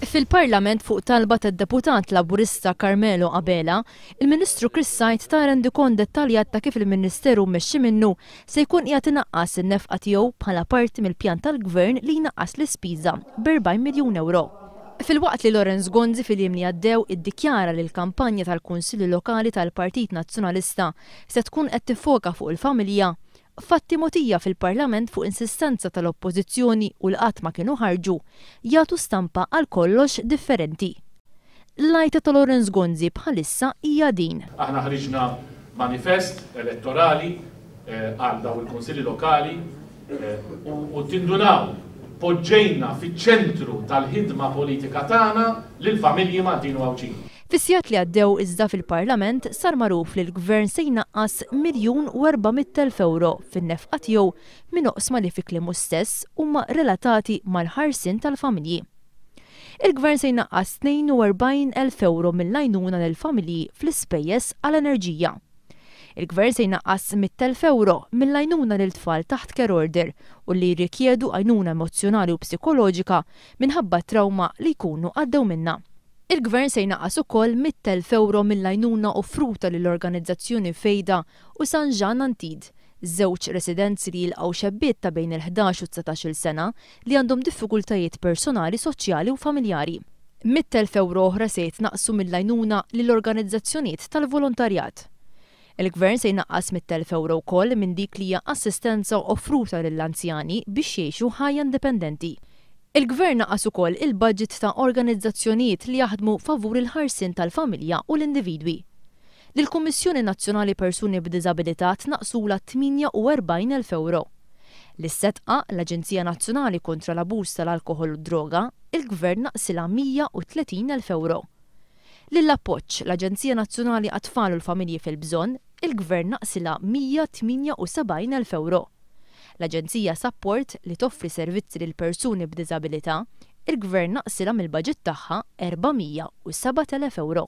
Fil-Parlament fuq talba tad-Deputat Laburista Carmelo Abela, il-Ministru Chris Said ta rendikont dettaljat ta' kif il-Ministeru mmexxi minnu se jkun qiegħed inaqqas in-nefqa tiegħu bħala parti mill-pjan tal-Gvern li jnaqqas l-ispiża b'erbgħin miljun ewro. Filwaqt li Lawrence Gonzi fil-jiem li għaddew iddikjara li l-kampanja tal-Kunsilli Lokali tal-Partit Nazzjonalista se tkun qed tiffoka fuq il-familja, Fatti mogħtija fil-Parlament fuq insistenza tal-Oppożizzjoni u li qatt ma kienu ħarġu, jagħtu stampa għal kollox differenti. L-għajta ta' Lawrence Gonzi bħalissa hija din. Aħna ħriġna manifest elettorali għal dawn il-Kunsilli Lokali u tindunaw, poġġejna fiċ-ċentru tal-ħidma politika tagħna lill-familji Maltin u Għawdxin. Fis-sigħat li għaddew iżda fil-Parlament sar magħruf li l-Gvern se jnaqqas miljun u erba' mitt elf ewro fin-nefqa tiegħu minn oqsma li fi kliemu stess huma relatati mal-ħarsien tal-familji. Il-Gvern se jnaqqas tnejn u erbgħin elf ewro mill-għajnuna lill-familji fl-ispejjeż għal enerġija. Il-Gvern se jnaqqas mitt elf ewro mill-għajnuna lil tfal taħt care order u li jirrikjedu għajnuna emozzjonali u psikoloġika minħabba t-trawma li jkunu għaddew minnha. Il-Gvern se jnaqqas ukoll mitt elf ewro mill-għajnuna offruta lil organizzazzjoni Fejda u San Ġann Antid, żewġ residenzi li jilqgħu xebbiet ta' bejn il-ħdax u dsatax-il sena li għandhom diffikultajiet personali, soċjali u familjari. Mitt elf ewro oħra se jitnaqqsu mill-għajnuna lil organizzazzjonijiet tal-volontarjat. Il-Gvern se jnaqqas mitt elf ewro wkoll minn dik li hija assistenza offruta lill-anzjani biex jgħixu ħajja indipendenti. Il-Gvern naqqas ukoll il-baġit ta' organizzazzjonijiet li jaħdmu favur il-ħarsien tal-familja u l-individwi. Lill-Kummissjoni Nazzjonali Persuni b'Diżabilità tnaqqsulha tmienja u erbgħin elf ewro. Lis-SEDCA, l-Aġenzija Nazzjonali kontra l-Abuż tal-Alkoħol u d-Droga, il-Gvern naqqsilha mija u tletin elf ewro. Lill-Appoġġ, l-Aġenzija Nazzjonali għat-Tfal u l-Familji fil-Bżonn, il-Gvern naqsilha 178 elf ewro. L-Aġenzija Sapport, li toffri servizzi lil persuni b'diżabilità, il-Gvern naqsilha mill-baġit tagħha 407 elef ewro.